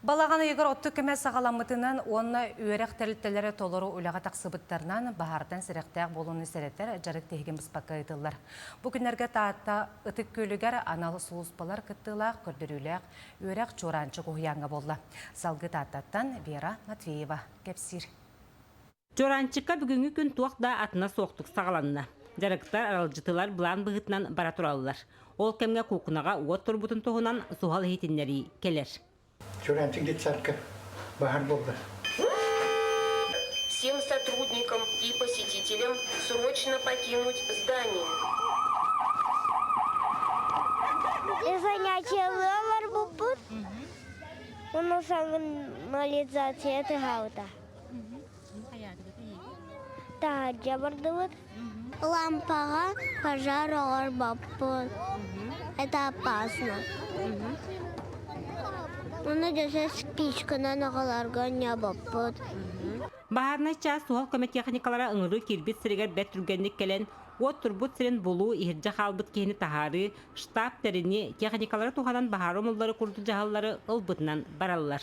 Балаҕан ыйыгар оттук кэмэ саҕаламмытынан уонна үөрэх тэрилтэлэрэ толору үлэҕэ тахсыбыттарынан баһаартан сэрэхтээх буолууну сэрэтэр дьарык тиһигин быспакка ыытыллар. Бу күннэргэ Таатта Ытык Күөлүгэр анал сулууспалар кыттыылаах көрдөрүүлээх үөрэх Чуораанчык уһуйааҥҥа буолла. Салгыы Тааттаттан Вера Матвеева кэпсиир. Чуораанчыкка бүгүҥҥү күн туох да атына суохтук саҕаланна. Дьарыктар аралдьытылар былаан быһыытынан бара тураллар. Ол кэмҥэ куукунаҕа уот турбутун туһунан суһал иһитиннэрии кэлэр. Чураанчык детсадка баһар буолла. Всем сотрудникам и посетителям срочно покинуть здание. Занятие ловар бупут. У нас анализация это гаута. Таадьа бардыбыт. Лампаҕа пожар оҕорбоппут. Это опасно. Оны десе спичканан аҕаларга ньабаппыт. Баһаарынай чаас суһал көмө техникалара ыҥырыы киирбит сиригэр бэрт түргэнник кэлэн, уот турбут сирин булуу, иһирдьэ хаалбыт киһини таһаарыы, штаб тэринии, техникалары туһанан баһаар умуллары курдук дьаһаллары ылбытынан бараллар.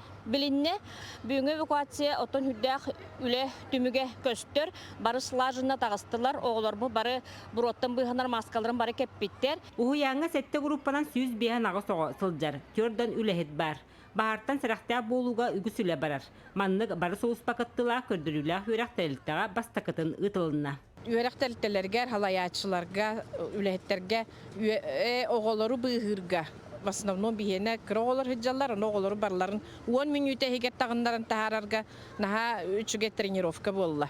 Билиннэ, бүгүҥҥү эвакуация оттон үрдээх үлэ түмүгэ көстөр. Бары слаженно таҕыстылар, оҕолорбут бары буруоттан быыһанар мааскаларын бары кэппиттэр. Уһуйааҥҥа сэттэ группанан сүүс биэһэн аҕыс оҕо сылдьар, түөрдан үлэһит баар. Баһаартан сэрэхтээх буолууга үгүс үлэ барар. Маннык бары сулууспа кыттыылаах көрдөрүүлээх үөрэх тэрилтэҕэ бастакытын ыытылынна. үөрэх тэрилтэлэригэр, салайааччыларга, үлэһиттэргэ оҕолору быыһыырга в основном биһиэнэ кыра оҕолор сылдьаллар, аны оҕолору барыларын уон мүнүүтэ иһигэр таҕыннаран таһаарарга наһаа үчүгэй тренировка буолла.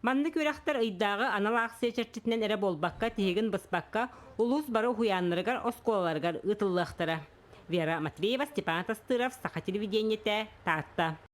Маннык үөрэхтэр ыйдааҕы анал аахсыйа чэрчитинэн эрэ буолбакка, тиһигин быспакка, улуус бары уһуйааннарыгар, оскуолаларыгар ыытыллыахтара. Вера Матвеева, Степан Атастыров, Саха телевидениетэ, Таатта.